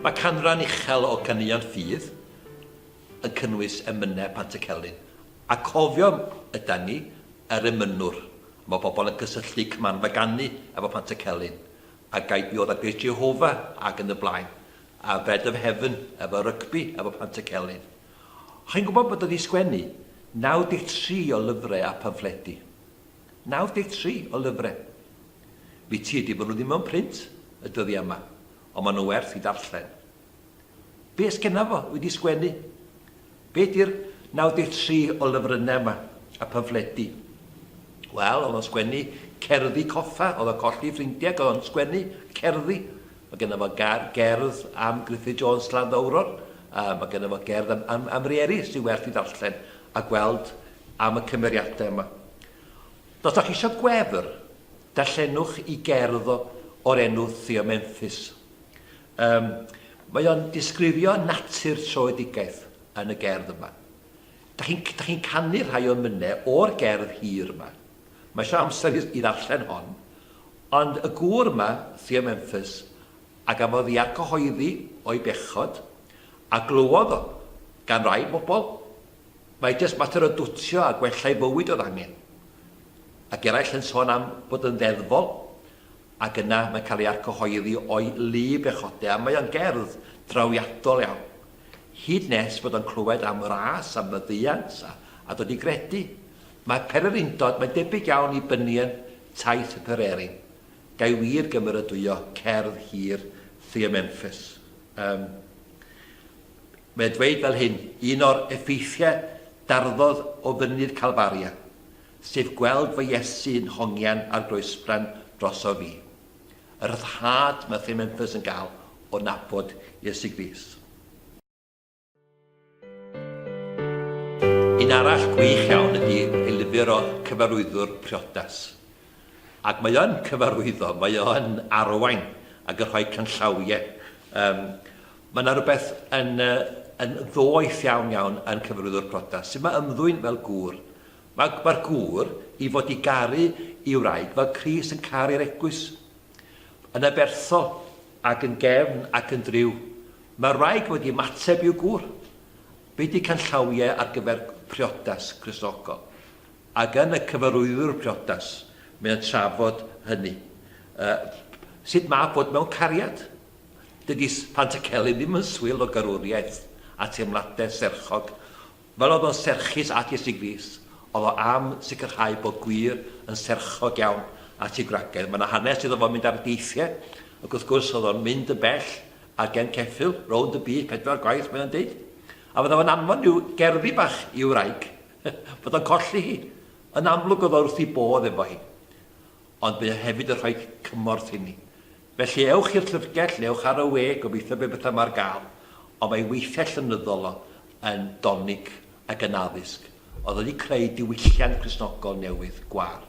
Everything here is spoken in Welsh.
Mae canran uchel o ganeuon ffydd yn cynnwys emynau Pantycelyn, a cofio ydan ni, yr emynwr. Mae pobl yn cysylltu cymmanfa ganu efo Pantycelyn, a gai buodd ar Grist Jehofa ac yn y blaen, a Bread of Heaven efo rygbi efo Pantycelyn. Chi'n gwybod bod o 'di sgwennu 93 o lyfre a pamffledi. 93 o lyfre! Fi ti ydi bod nhw ddim mewn print y dyddia yma, ond ma' nhw werth i darllen. Be sgenna fo wedi sgwennu? Be di'r 93 o lyfrynne yma a pamffledi? Wel, o'dd o'n sgwennu cerddi coffa, o'dd o'n colli ffrindia, o'dd o'n sgwennu cerddi. Mae gynno fo gerdd am Gruffydd Jones Llanddowror, mae gynno fo gerdd am, am, am Rieri sy'n werth i ddarllen a gweld am y cymeriadau yma. Os da chi eisiau gwefr, darllenwch i gerdd o'r enw Theo Memphis. Um, mae o'n disgrifio natur troedigaeth yn y gerdd yma. Da chi'n chi canu rhai o mynau o'r gerdd hir yma. Mae eisiau amser i ddarllen hon, ond y gŵr yma, Thea Memphis, a gafodd ei argyhoeddi o'i bechod, a glywodd o gan rai pobl, mae jyst mater o dwtsio a gwella ei fywyd oedd angen. Ac eraill yn sôn am fod yn ddeddfol, ac yna mae'n cael ei argyhoeddi o'i lu bechodau, a mae o'n gerdd drawiadol iawn. Hyd nes fod o'n clywed am ras a myddeuant a, a dod i gredu. Mae pererindod, mae'n debyg iawn i bynnian taith y pererin. Ga i wir gymeradwyo cerdd hir Thea Memphis. Um, mae'n dweud fel hyn, un o'r effeithiau darddodd o fynydd Calfaria, sef gweld fy Iesu'n hongian ar groesbran droso fi. Yr rhyddhad mae Thea Memphis yn gael o nabod Iesu Grist. Un arall gwych iawn ydy ei lyfr o cyfarwyddwr priodas. Ac mae o'n cyfarwyddo, mae o'n arwain ac yn rhoi canllawiau. Um, mae yna rhywbeth yn, uh, yn ddoeth iawn iawn yn cyfarwyddwr priodas. Sut mae ymddwyn fel gŵr? Mae'r mae gŵr i fod i garu i wraig fel Cris yn caru'r egwys. Yn aberthol, ac yn gefn, ac yn driw. Mae'r wraig wedi ymateb i'w gŵr. Fe 'di canllawiau ar gyfer priodas Cristnogol, ac yn y cyfarwyddwr priodas, mae o'n trafod hynny. Yy, sut mae bod mewn cariad? Dydi Santa Celyn ddim yn swil o garwriaeth a teimladau serchog, Welodd o'n serchus at ei siglys, oedd o am sicrhau bod gwŷr yn serchog iawn at ei gwragedd. Mae 'na hanes iddo fo mynd ar y deithiau, ac wrth gwrs oedd o'n mynd yn bell ar gefn ceffyl, rownd y byd pedwar gwaith, mae o'n deud. A fydda fo'n anfon rhyw gerddi bach i wraig, bod o'n colli hi. Yn amlwg oedd o wrth ei bodd efo hi, ond mae o hefyd yn rhoi cymorth inni. Felly ewch i'r llyfrgell, newch ar y we, gobeithio bydd pethau 'ma ar gael, ond mae weithiau llenyddol o yn donig ac yn addysg, oedd wedi creu diwylliant Cristnogol newydd gwar.